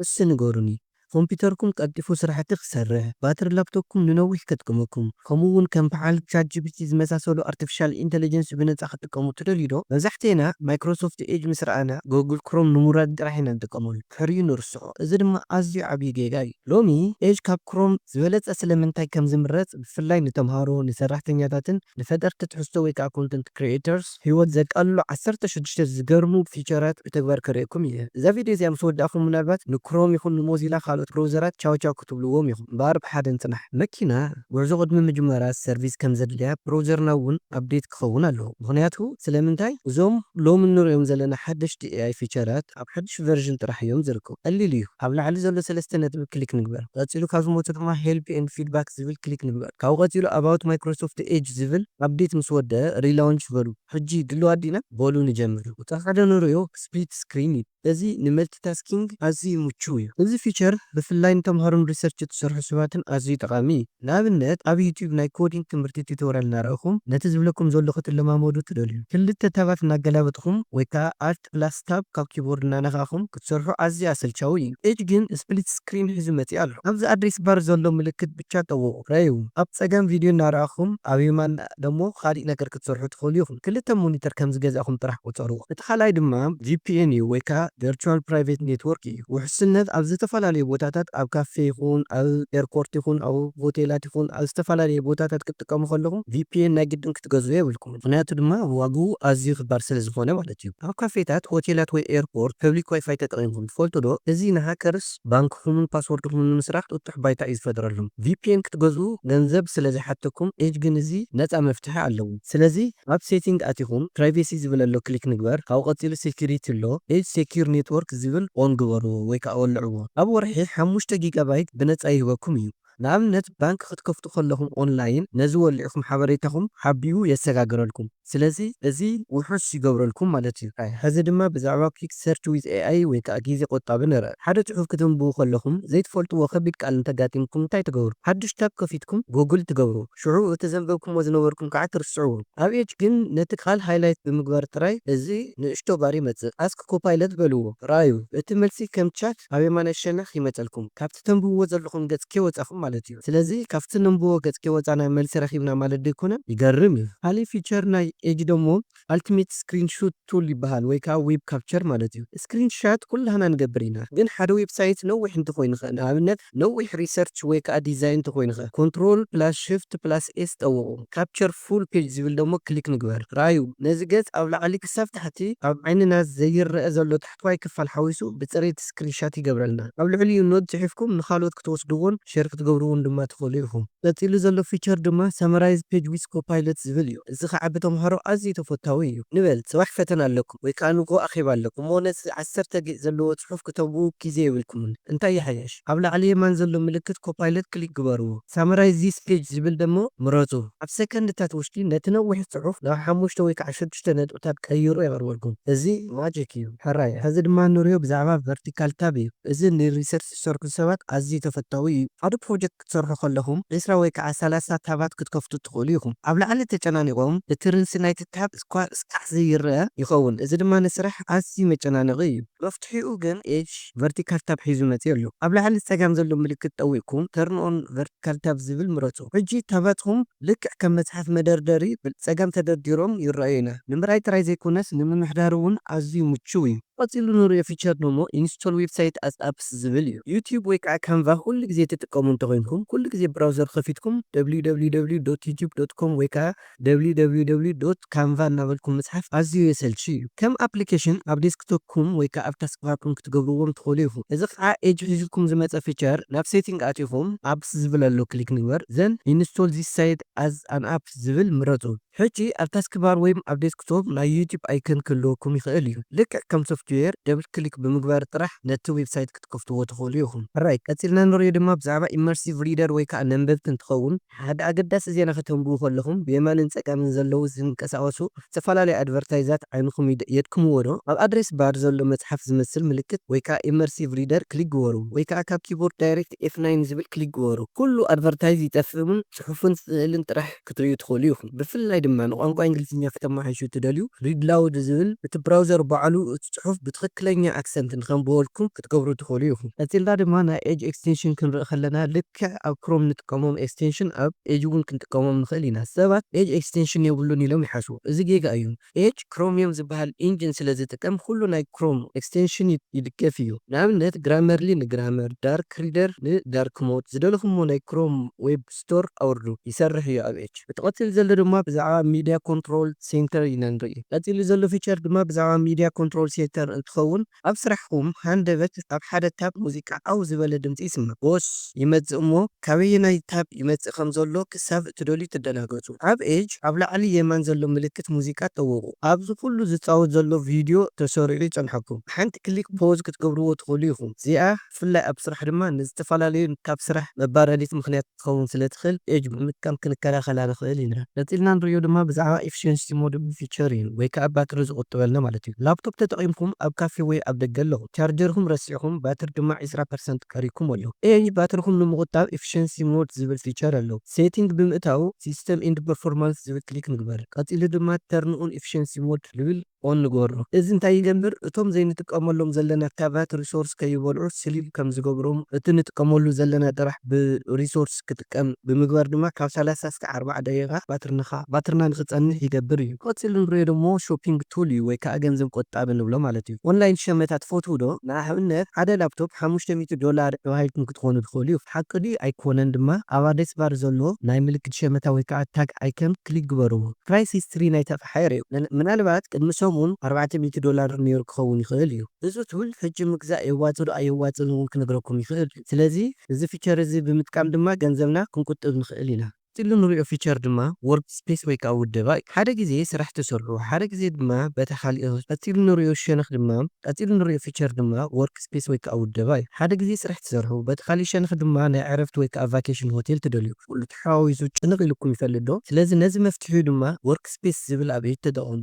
እስቲ ንገሩኒ ኮምፒተርኩም ቀልጢፉ ስራሕቲ ክሰርሕ፣ ባትሪ ላፕቶፕኩም ንነዊሕ ከጥቅመኩም፣ ከምኡ ውን ከም በዓል ቻትጂፒቲ ዝመሳሰሉ ኣርቲፊሻል ኢንተለጀንስ ብነጻ ክትጥቀሙ ትደልዩ ዶ? መብዛሕቴና ማይክሮሶፍት ኤጅ ምስ ረኣና ጎግል ክሮም ንምውራድ ጥራሕ ኢና ንጥቀመሉ ድሕሪኡ ንርስዖ እዚ ድማ ኣዝዩ ዓብይ ጌጋ እዩ። ሎሚ ኤጅ ካብ ክሮም ዝበለጸ ስለምንታይ ከም ዝምረጽ ብፍላይ ንተምሃሮ፣ ንሰራሕተኛታትን ንፈጠርቲ ትሕዝቶ ወይ ከኣ ኮንተንት ክሪኤተርስ፣ ሂወት ዘቃልሉ ዓሰርተ ሽዱሽተ ዝገርሙ ፊቸራት ብተግባር ከርእየኩም ኢየ። እዛ ቪድዮ እዚኣ ምስ ወዳእኩም ምናልባት ንክሮም ይኹን ንሞዚላ ካልኦት ብሮውዘራት ቻው ቻው ክትብልዎም ኢኹም እምበኣር ብሓደ ንጽናሕ። መኪና ጉዕዞ ቅድሚ ምጅማራ ሰርቪስ ከም ዘድልያ ብሮውዘርና እውን ኣፕዴት ክኸውን ኣለዎ። ምኽንያቱ ስለምንታይ እዞም ሎሚ እንርእዮም ዘለና ሓደሽቲ ኤኣይ ፊቸራት፣ ነጥብታት ኣብ ሓዱሽ ቨርዥን ጥራሕ እዮም ዝርከቡ። ቀሊል እዩ። ኣብ ላዕሊ ዘሎ ሰለስተ ነጥቢ ክሊክ ንግበር። ቀጺሉ ካብ ዝመጹ ድማ Help and Feedback ዝብል ክሊክ ንግበር። ካብኡ ቀጺሉ About Microsoft Edge ዝብል ኣፕዴት ምስ ወደኣ Relaunch በሉ። ሕጂ ድሉዋት ዲና? በሉ ንጀምር። ቁጽሪ ሓደ ንርእዮ Split Screen እዩ። እዚ ንመልቲታስኪንግ ኣዝዩ ምቹው እዩ። እዚ ፊቸር ብፍላይ ንተምሃሮን ሪሰርች እትሰርሑ ሰባትን ኣዝዩ ጠቓሚ እዩ። ንኣብነት ኣብ ዩትዩብ ናይ ኮዲንግ ትምህርቲ ቲቶርያል እናረኣኹም ነቲ ዝብለኩም ዘሎ ክትለማመዱ እትደልዩ፣ ክልተ ታባት እናገላበጥኹም ወይ ከኣ Alt ፕላስ ታብ ካብ ኪቦርድ እናነካእኩም ክትሰርሑ ኣዝዩ ኣሰልቻዊ እዩ። ኤጅ ግን ስፕሊት ስክሪን ሒዙ መጺኡ ኣሎ። ኣብዚ ኣድሬስ ባር ዘሎ ምልክት ብቻ ጠውቑ፣ ረዩ። ኣብ ጸጋም ቪድዮ እናረኣኹም ኣብ የማን ደሞ ኻሊእ ነገር ክትሰርሑ ትኽእሉ ኢኹም። ክልተ ሞኒተር ከም ዝገዛእኹም ጥራሕ ቁጸርዎ። እቲ ካልኣይ ድማ ቪፒኤን እዩ ወይ ከኣ ቨርቹዋል ፕራይቬት ኔትዎርክ እዩ። ውሕስነት ኣብ ዝተፈላለዩ ቦታታት ኣብ ካፌ ይኹን ኣብ ኤርፖርት ይኹን ኣብ ሆቴላት ይኹን ኣብ ዝተፈላለዩ ቦታታት ክትጥቀሙ ከለኹም ቪፒኤን ናይ ግድን ክትገዝኡ የብልኩምን። ምኽንያቱ ድማ ዋግኡ ኣዝዩ ክባር ስለ ዝኾነ ማለት እዩ። ኣብ ካፌታት፣ ሆቴላት ወይ ኤርፖርት ፐብሊክ ዋይፋይ ተጠቒምኩም ትፈልጡ ዶ? እዚ ንሃከርስ ባንክኹምን ፓስዎርድኹምን ንምስራቕ ጥጡሕ ባይታ እዩ ዝፈጥረሎም። ቪፒኤን ክትገዝኡ ገንዘብ ስለ ዝሓተኩም ኤጅ ግን እዚ ነጻ መፍትሒ ኣለዎ። ስለዚ ኣብ ሴቲንግ ኣቲኹም ፕራይቬሲ ዝብል ኣሎ ክሊክ ንግበር፣ ካብኡ ቀጺሉ ሴኩሪቲ ኣሎ ኤጅ ሴኩር ኔትዎርክ ዝብል ኦን ግበርዎ ወይ ከኣ ወልዕዎ። ኣብ ወርሒ ሓሙሽተ ጊጋባይት ብነጻ ይህበኩም እዩ። ንኣብነት ባንክ ክትከፍቱ ከለኹም ኦንላይን ነዚ ወሊዕኩም ሓበሬታኹም ሓቢኡ የሰጋግረልኩም ስለዚ እዚ ውሑስ ይገብረልኩም ማለት እዩ። ሕዚ ድማ ብዛዕባ Quick Search with AI ወይ ከኣ ግዜ ቆጣቢ ንርእ። ሓደ ጽሑፍ ክተንብቡ ከለኹም ዘይትፈልጥዎ ከቢድ ቃል እንተጋጢምኩም እንታይ ትገብሩ? ሓድሽ ታብ ከፊትኩም Google ትገብሩ ሽዑ እቲ ዘንበብክሞ ዝነበርኩም ከኣ ትርስዕዎ። ኣብ Edge ግን ነቲ ቃል ሃይላይት ብምግባር ጥራይ እዚ ንእሽቶ ባር ይመጽእ Ask Copilot በልዎ ረኣዩ እቲ መልሲ ከም ቻት ኣብ የማናይ ሸነኽ ይመጸልኩም። ካብቲ ተንብብዎ ዘለኹም ገጽ ከይወጻኹም ማለት እዩ ስለዚ ካብቲ ነንብቦ ገጽ ከይወጻና መልሲ ረኺብና ማለት ዶ ኣይኮነን ይገርም እዩ። ካሊእ ፊቸር ናይ ኤጅ ደሞ ኣልቲሜት ስክሪን ሹት ቱል ይበሃል ወይ ከኣ ዌብ ካፕቸር ማለት እዩ ስክሪን ሻት ኩላህና ንገብር ኢና ግን ሓደ ዌብ ሳይት ነዊሕ እንተኾይኑኸ ንኣብነት ነዊሕ ሪሰርች ወይ ከኣ ዲዛይን እንተኾይኑኸ ኮንትሮል ፕላስ ሽፍት ፕላስ ኤስ ጠውቑ ካፕቸር ፉል ፔጅ ዝብል ደሞ ክሊክ ንግበር ረኣዩ ነዚ ገጽ ኣብ ላዕሊ ክሳብ ታሕቲ ኣብ ዓይንና ዘይረኣ ዘሎ ጥዋይ ክፋል ሓዊሱ ብጽሬት ስክሪንሻት ይገብረልና። ኣብ ልዕሊኡ ኖት ጽሒፍኩም ንኻልኦት ክትወስድዎን ሼር ክትገብርዎን ድማ ትኽእሉ ኢኹም። ቀጺሉ ዘሎ ፊቸር ድማ Summarize Page with Copilot ዝብል እዩ። እዚ ኸኣ ብተምሃሮ ኣዝዩ ተፈታዊ እዩ። ንበል ጽባሕ ፈተና ኣለኩም ወይ ከኣ ንግሆ ኣኼባ ኣለኩም እሞ ነዚ ዓሰርተ ጌጽ ዘለዎ ጽሑፍ ክተንብቡ ግዜ የብልኩምን። እንታይ ይሓይሽ? ኣብ ላዕሊ የማን ዘሎ ምልክት ኮፓይለት ክሊክ ግበሩ። ሳመራይዝ ዚስ ፔጅ ዝብል ደሞ ምረጹ። ኣብ ሰከንድታት ውሽጢ ነቲ ነዊሕ ጽሑፍ ናብ ሓሙሽተ ወይ ከኣ ሽዱሽተ ነጥብታት ቀይሩ የቕርበልኩም። እዚ ማጂክ እዩ ሕራይ። ሕዚ ድማ ንሪኦ ብዛዕባ ቨርቲካል ታብ እዩ። እዚ ንሪሰርች ዝሰርሑ ሰባት ኣዝዩ ተፈታዊ እዩ። ሓደ ፕሮጀክት ክትሰርሑ ከለኹም ዕስራ ወይ ከኣ ሰላሳ ታባት ክትከፍቱ ትኽእሉ ኢኹም። ኣብ ላዕሊ ተጨናኒቖም እቲ ርእሲ ናይቲ ታብ እኳ እስካዕ ዘይረኣ ይኸውን። እዚ ድማ ንስራሕ ኣዝዩ መጨናነቒ እዩ። መፍትሒኡ ግን ኤጅ። ቨርቲካል ታብ ሒዙ መጺኡ ኣሎ። ኣብ ላዕሊ ጸጋም ዘሎ ምልክት ጠዊቕኩም Turn on Vertical Tab ዝብል ምረጹ። ሕጂ ታባትኩም ልክዕ ከም መጽሓፍ መደርደሪ ብጸጋም ተደርዲሮም ይረኣዩና። ንምርኣይ ጥራይ ዘይኮነስ ንምምሕዳር'ውን ኣዝዩ ምቹው እዩ። ቀጺሉ ንርእዮ ፊቸር ደሞ Install Website as Apps ዝብል እዩ። ዩትዩብ ወይ ከኣ ካንቫ ኩሉ ግዜ ትጥቀሙ እንተኾይንኩም፣ ኩሉ ግዜ ብራውዘር ከፊትኩም www ዶት ዩትዩብ ዶት ኮም ወይ ከኣ www dot canva እናበልኩም ምጽሓፍ ኣዝዩ የሰልቺ እዩ። ከም ኣፕሊኬሽን ኣብ ዴስክቶፕኩም ወይ ከኣ ኣብ ታስክባርኩም ክትገብርዎም ትኽእሉ ኢኹም። እዚ ከኣ ኤጅ ሒዙልኩም ዝመጸ ፊቸር ናብ ሴቲንግ ኣቲኹም Apps ዝብል ኣሎ ክሊክ ንግበር then Install this site as an app ዝብል ምረጹ። ሕጂ ኣብ ታስክባር ወይም ኣብ ዴስክቶፕ ናይ ዩቱብ ኣይከን ክህልወኩም ይኽእል እዩ። ልክዕ ከም ሶፍትዌር ደብል ክሊክ ብምግባር ጥራሕ ነቲ ዌብሳይት ክትከፍትዎ ትኽእሉ ኢኹም። ሕራይ ቀጺልና ንርእዮ ድማ ብዛዕባ ኢመርሲቭ ሪደር ወይ ከኣ ነንበብቲ እንትኸውን፣ ሓደ ኣገዳሲ ዜና ከተንብቡ ከለኹም ብየማንን ጸጋምን ዘለዉ ዝንቀሳቐሱ ዝተፈላለዩ ኣድቨርታይዛት ዓይንኹም የድክምዎ ዶ? ኣብ ኣድሬስ ባር ዘሎ መጽሓፍ ዝመስል ምልክት ወይ ከኣ ኢመርሲቭ ሪደር ክሊክ ግበሩ ወይ ከኣ ካብ ኪቦርድ ዳይሬክት ኤፍ ናይን ዝብል ክሊክ ግበሩ። ኩሉ ኣድቨርታይዝ ይጠፍእ እሙን ጽሑፍን ስእልን ጥራሕ ክትርእዩ ትኽእሉ ኢኹም። ብፍላይ ድማ ንቋንቋ እንግሊዝኛ ክተመሓይሹ እትደልዩ ሪድ ላውድ ዝብል እቲ ብራውዘር ባዕሉ እቲ ጽሑፍ ብትኽክለኛ ኣክሰንት ንኸንብበልኩም ክትገብሩ ትኽእሉ ኢኹም። ቀጺልና ድማ ናይ ኤጅ ኤክስቴንሽን ክንርኢ ከለና ልክ። ልክዕ ኣብ ክሮም ንጥቀሞም ኤክስቴንሽን ኣብ ኤጅ እውን ክንጥቀሞም ንኽእል ኢና። ሰባት ኤጅ ኤክስቴንሽን የብሉን ኢሎም ይሓስቡ። እዚ ጌጋ እዩ። ኤጅ ክሮሚየም ዝበሃል ኢንጂን ስለ ዝጥቀም ኹሉ ናይ ክሮም ኤክስቴንሽን ይድገፍ እዩ። ንኣብነት ግራመርሊ ንግራመር፣ ዳርክ ሪደር ንዳርክ ሞድ። ዝደለኹምዎ ናይ ክሮም ዌብ ስቶር ኣውርዱ። ይሰርሕ እዩ ኣብ ኤጅ። እቲ ቀፂሉ ዘሎ ድማ ብዛዕባ ሚድያ ኮንትሮል ሴንተር ኢና ንርኢ። ቀፂሉ ዘሎ ፊቸር ድማ ብዛዕባ ሚድያ ኮንትሮል ሴንተር እንትኸውን፣ ኣብ ስራሕኹም ሃንደበት ኣብ ሓደ ታብ ሙዚቃ ዓው ዝበለ ድምጺ ይስማዕ፣ ቦስ፣ ይመጽእ እሞ ካበየናይ ታብ ይመጽእ ከም ዘሎ ክሳብ እትደልዩ ትደናገጹ። ኣብ ኤጅ ኣብ ላዕሊ የማን ዘሎ ምልክት ሙዚቃ ጠውቑ። ኣብዚ ኩሉ ዝጻወት ዘሎ ቪድዮ ተሰሪዑ ይጸንሐኩም። ብሓንቲ ክሊክ ፖዝ ክትገብርዎ ትኽእሉ ኢኹም። እዚኣ ብፍላይ ኣብ ስራሕ ድማ ንዝተፈላለዩ ታብ ስራሕ መባረዲት ምኽንያት። ክትኸውን ስለ ትኽእል edge ብምጥቃም ክንከላኸላ ንኽእል ኢና። ቀጺልና ንርእዮ ድማ ብዛዕባ Efficiency Mode ብ Feature እዩ ወይ ከኣ ባትሪ ዝቑጥበልና ማለት እዩ። ላፕቶፕ ተጠቒምኩም ኣብ ካፌ ወይ ኣብ ደገ ኣለኹም፣ ቻርጀርኩም ረሲዕኩም ባትሪ ድማ ዕስራ ፐርሰንት ቀሪብኩም ኣሎ። Edge ባትርኹም ንምቑጣብ Efficiency Mode ዝብል ፊቸር ኣለዎ። Setting ብምእታው System and Performance ዝብል ክሊክ ንግበር። ቀጺሉ ድማ Turn on Efficiency Mode ዝብል። ኦን ንገብሮ። እዚ እንታይ ይገብር እቶም ዘይንጥቀመሎም ዘለና ካቫት ሪሶርስ ከይበልዑ ስሊፕ ከም ዝገብሮም እቲ ንጥቀመሉ ዘለና ጥራሕ ብ ሪሶርስ ክጥቀም ብምግባር ድማ ካብ ሰላሳ እስከ ኣርባዓ ደቂቃ ባትርንኻ ባትርና ንክጸንሕ ይገብር እዩ። ቀጺሉ ንርእዮ ደሞ ሾፒንግ ቱል እዩ ወይ ከኣ ገንዘብ ቆጣቢ ንብሎ ማለት እዩ። ኦንላይን ሸመታ ትፈትዉ ዶ? ንኣብነት ሓደ ላፕቶፕ ሓሙሽተ ሚእቲ ዶላር ተባሂልኩም ክትኮኑ ትኽእሉ እዩ። ሓቂ ድዩ ኣይኮነን ድማ ኣብ ኣድሬስ ባር ዘሎ ናይ ምልክት ሸመታ ወይ ከኣ ታግ ኣይከን ክሊክ ግበርዎ ፕራይስ ሂስትሪ ናይቲ ኣቕሓ። ሓይር እዩ። ምናልባት ቅድሚ ሰሙን ኣርባዕተ ሚእቲ ዶላር ነይሩ ክኸውን ይኽእል እዩ። እዚ ቱል ሕጂ ምግዛእ የዋጽእ ዶ ኣየዋጽእን እውን ክነግረኩም ይኽእል እዩ። ስለዚ እዚ ፊቸር እዚ ብምጥቃም ድማ ገንዘብና ክንቁጥብ ንኽእል ኢና። ቀጺሉ ንሪኦ ፊቸር ድማ ዎርክስፔስ ወይ ከኣ ውደባ እዩ። ሓደ ግዜ ስራሕ ትሰርሑ ሓደ ግዜ ድማ በታ ካልእ ቀጺሉ ንሪኦ ሸነኽ ድማ ቀጺሉ ንሪኦ ፊቸር ድማ ዎርክስፔስ ወይ ከኣ ውደባ እዩ። ሓደ ግዜ ስራሕ ትሰርሑ በቲ ካልእ ሸነኽ ድማ ናይ ዕረፍቲ ወይ ከኣ ቫኬሽን ሆቴል ትደልዩ። ሓዋዊሱ ጭንቕ ኢሉኩም ይፈልጥ ዶ? ስለዚ ነዚ መፍትሒኡ ድማ Workspace ዝብል ኣብዒቲ ተጠቐሙ።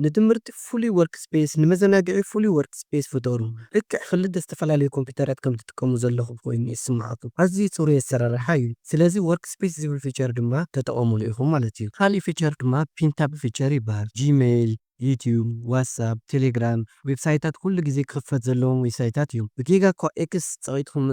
ንትምህርቲ ፍሉይ Workspace፣ ንመዘናግዒ ፍሉይ Workspace ፍጠሩ። ልክዕ ክልተ ዝተፈላለዩ ኮምፒዩተራት ከም ትጥቀሙ ዘለኹም ኮይኑ ይስምዓኩም። ኣዝዩ ጽሩይ ኣሰራርሓ እዩ። ስለዚ Workspace ዝብል ፊቸር ድማ ተጠቐሙሉ ኢኹም ማለት እዩ። ካልእ ፊቸር ድማ Pin Tab ፊቸር ይበሃል። Gmail፣ ዩትዩብ፣ ዋትስኣፕ፣ ቴሌግራም፣ ዌብሳይታት ኩሉ ግዜ ክኽፈት ዘለዎም ዌብሳይታት እዮም። ብጌጋ እኳ ኤክስ ጸቒጥኩም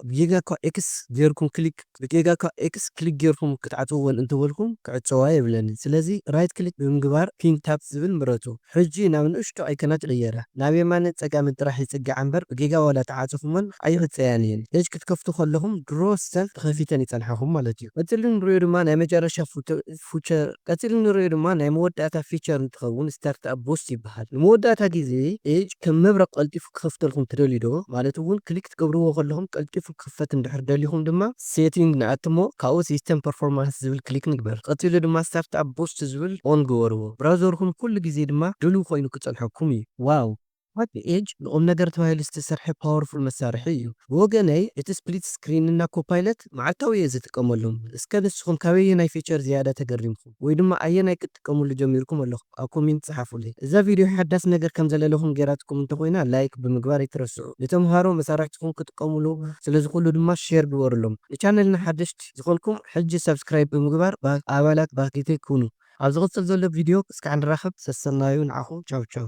ብጌጋ እኳ ኤክስ ጌርኩም ክሊክ ብጌጋ እኳ ኤክስ ክሊክ ጌርኩም ክትዓጽውወን እንተበልኩም ክዕጸዋ የብለንን። ስለዚ ራይት ክሊክ ብምግባር ፒን ታብ ዝብል ምረጹ። ሕጂ ናብ ንእሽቶ ኣይከናት ይቕየራ። ናብ የማንን ጸጋምን ጥራሕ ይጽግዓ እምበር ብጌጋ ዋላ ተዓጽኹመን ኣይክጸያን እየን። ፔጅ ክትከፍቱ ከለኹም ድሮ ሰልፍ ተኸፊተን ይጸንሓኹም ማለት እዩ። እቲ እንርእዮ ድማ ናይ መጨረሻ ፉቶ ፉቸር ቀጺሉ እንርእዮ ድማ ናይ መወዳእታ ፊቸር እንትኸውን ስታርትኣፕ ቡስት ይበሃል። ንመወዳእታ ግዜ ኤጅ ከም መብረቕ ቀልጢፉ ክኸፍተልኩም ትደልዩ ዶ? ማለት እውን ክሊክ ትገብርዎ ከለኹም ቀልጢፉ ክኽፈት እንድሕር ደሊኹም ድማ ሴቲንግ ንኣቱ እሞ ካብኡ ሲስተም ፐርፎርማንስ ዝብል ክሊክ ንግበር። ቀጺሉ ድማ ስታርትኣፕ ቡስት ዝብል ኦን ግበርዎ። ብራውዘርኩም ኩሉ ግዜ ድማ ድሉው ኮይኑ ክጸንሐኩም እዩ። ዋው ሓቂ ኤጅ ንቁምነገር ተባሂሉ ዝተሰርሐ ፓወርፉል መሳርሒ እዩ ብወገነይ እቲ ስፕሊት ስክሪን እና ኮፓይለት መዓልታዊ እየ ዝጥቀመሎም እስከ ንስኩም ካበየናይ ፊቸር ዝያዳ ተገሪምኩም ወይ ድማ ኣየናይ ክትጥቀምሉ ጀሚርኩም ኣለኩም ኣብ ኮሜንት ጸሓፉለይ እዛ ቪድዮ ሓዳስ ነገር ከም ዘለለኩም ገይራትኩም እንተ ኮይና ላይክ ብምግባር ኣይትረስዑ ንተምሃሮ መሳርሕትኩም ክጥቀምሉ ስለ ዝክእሉ ድማ ሼር ግበርሎም ንቻነልና ሓደሽቲ ዝኮንኩም ሕጂ ሳብስክራይብ ብምግባር ኣባላት ባህጊተይ ኩኑ። ኣብ ዝቅጽል ዘሎ ቪድዮ እስካዕ ንራከብ ሰሰናዩ ንዓኩም ቻው ቻው።